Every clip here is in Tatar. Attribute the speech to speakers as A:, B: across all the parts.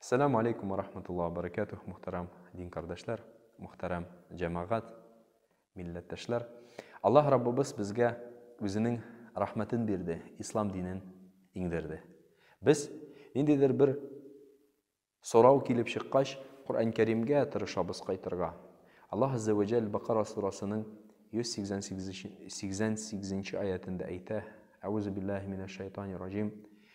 A: Сәлам алейкум ва рахматулла ва баракатух, мөхтәрәм дин кардәшләр, мөхтәрәм җәмәгать, милләттәшләр. Аллаһ Раббыбыз безгә үзенең рәхмәтен бирде, ислам динен иңдерде. Без ниндидер бер сорау килеп чыккач, Коръән Кәримгә тырышабыз кайтырга. Аллаһ Азза ва Җәлл Бакара сурасының 188 нче аятендә әйтә: "Әгъузу биллаһи минәш шайтанир ражим".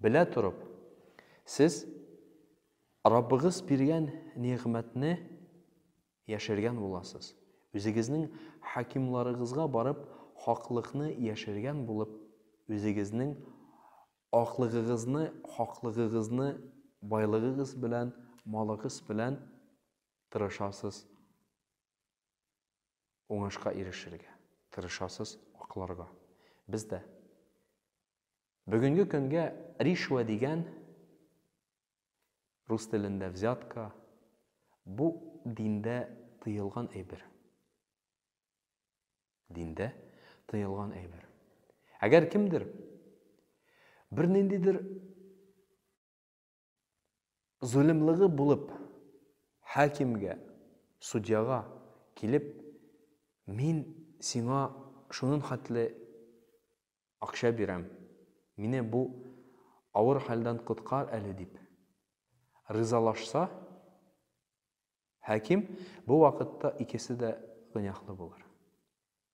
A: Белә торып, сез Раббыгыз биргән нигъмәтне яшергән буласыз. Үзегезнең хакимларыгызга барып, хаклыкны яшергән булып, үзегезнең аклыгыгызны, хаклыгыгызны байлыгыгыз белән, малыгыз белән тырышасыз уңышка ирешергә, тырышасыз акларга. Без дә Бүгенге көнгә ришвә дигән, рус телендә взятка, бу диндә тыелган әйбер. Диндә тыелган әйбер. Әгәр кемдер берниндидер Золымлыгы булып, хакимгә, судьяга, килеп, мин сиңа шунын хәтле акча бирәм, мине бу авыр хәлдән коткар әле дип, ризалашса, хаким бу вакытта икесе дә гөнаһлы булыр.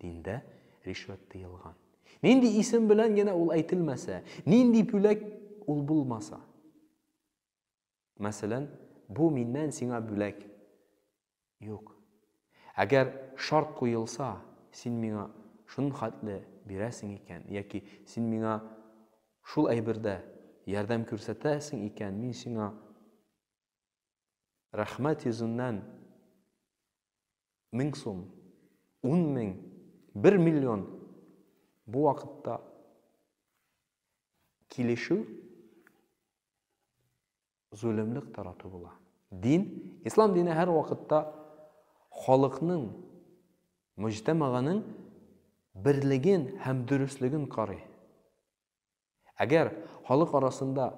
A: Диндә ришвәт тыелган. Нинди исем белән генә ул әйтелмәсә, нинди бүләк ул булмаса. Мәсәлән, бу миннән сиңа бүләк. Юк. Әгәр шарт куелса, син миңа шуның хәтле бирәсең икән, яки син миңа шул әйбердә ярдәм күрсәтәсең икән, мин сиңа Рәхмәт йөзеннән мең сум, ун мең, бер миллион бу вакытта килешү зөлемлек тарату була. Дин, ислам дине һәр вакытта халыкның, мөҗтәмаганың берлеген һәм дөреслеген карый. Әгәр халык арасында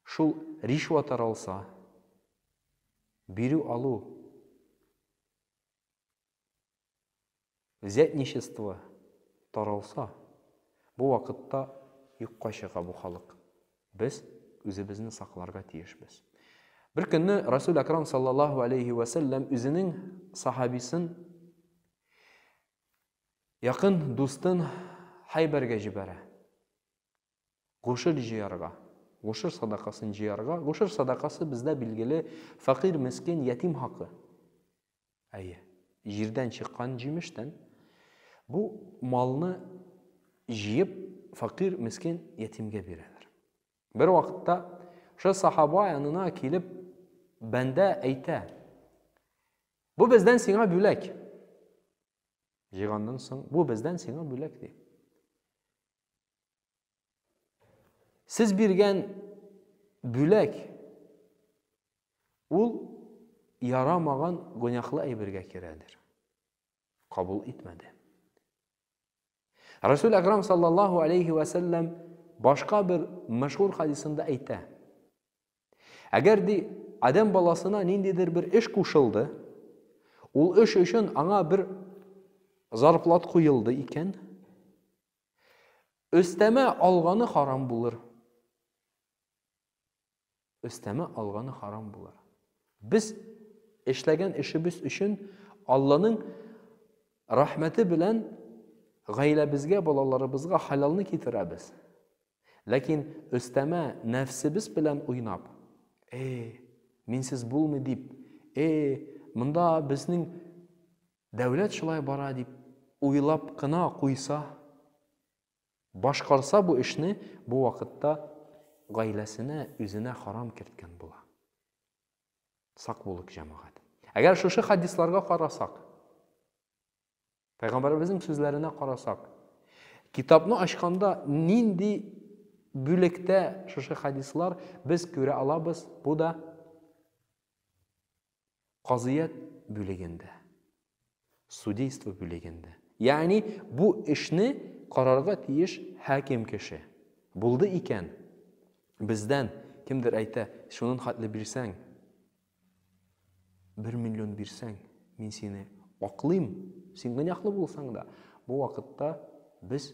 A: шул ришва таралса, бирү алу, взятничество таралса, бу вакытта юкка чыга бу халык. Без үзебезне сакларга тиешбез. Бер көнне Расул Акрам саллаллаху алейхи вәсәлләм үзенең сахабисын Якын дустын Хәйбәргә җибәрә. Гошер җыярга. Гошер садакасын җыярга. Гошер садакасы бездә билгеле фәкыйрь, мескен, ятим хакы. Әйе. Җирдән чыккан җимештән бу малны җыеп фәкыйрь, мескен, ятимгә бирәләр. Бер вакытта шул сахаба янына килеп бәндә әйтә. Бу бездән сиңа бүләк. Җыйганнан соң, бу бездән сиңа бүләк, ди. Сез биргән бүләк ул ярамаган гөнаһлы әйбергә керәдер. Кабул итмәде. Расул Акрам саллаллаху алейхи ва саллям башка бер мәшһүр хадисында әйтә. Әгәр ди Адәм баласына ниндидер бер эш кушылды, ул эш өчен аңа бер зарплат куелды икән, өстәмә алганы харам булыр. Өстәмә алганы харам булыр. Без эшләгән эшебез өчен Алланың рәхмәте белән гаиләбезгә, балаларыбызга халалны китерәбез. Ләкин өстәмә нәфсебез белән уйнап, Э, минсез булмый дип, э, монда безнең дәүләт шулай бара дип уйлап кына куйса, башкарса бу эшне, бу вакытта гаиләсенә, үзенә харам керткән була. Сак булык, җәмәгать. Әгәр шушы хадисларга карасак, Пәйгамбәребезнең сүзләренә карасак, китапны ачканда нинди бүлектә шушы хадислар без күрә алабыз, бу да казыят бүлегендә, судейство бүлегендә. Ягъни бу эшне карарга тиеш хаким кеше. Булды икән, бездән кемдер әйтә, шунын хатле бирсәң, Бер миллион бирсәң, мин сине аклыйм. Син гөнаһлы булсаң да, бу вакытта без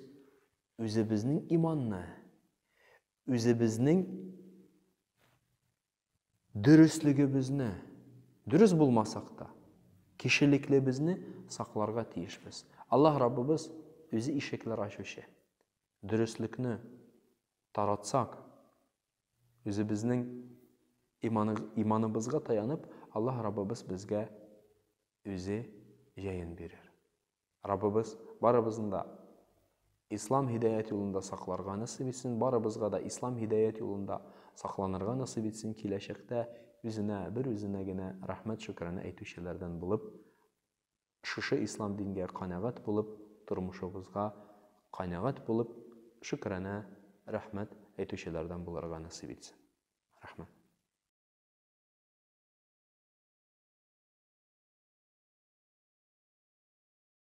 A: үзебезнең иманны, үзебезнең дөреслегебезне, дөрес булмасак та, кешелеклебезне сакларга тиешбез. Аллаһ Раббыбыз үзе ишекләр ачучы. Дөреслекне таратсак, Үзебезнең иманыбызга таянып, Аллаһ Раббыбыз безгә Үзе җәен бирер. Раббыбыз барыбызны да Ислам һидаят юлында сакларга насыйп итсен, барыбызга да Ислам һидаят юлында сакланырга насыйп итсен, киләчәктә Үзенә, бер Үзенә генә рәхмәт-шөкранә әйтүчеләрдән булып Шушы ислам дингә канәгать булып, тормышыбызга канәгать булып, шөкранә, рәхмәт әйтүчеләрдән булырга насыйп итсен. Рәхмәт.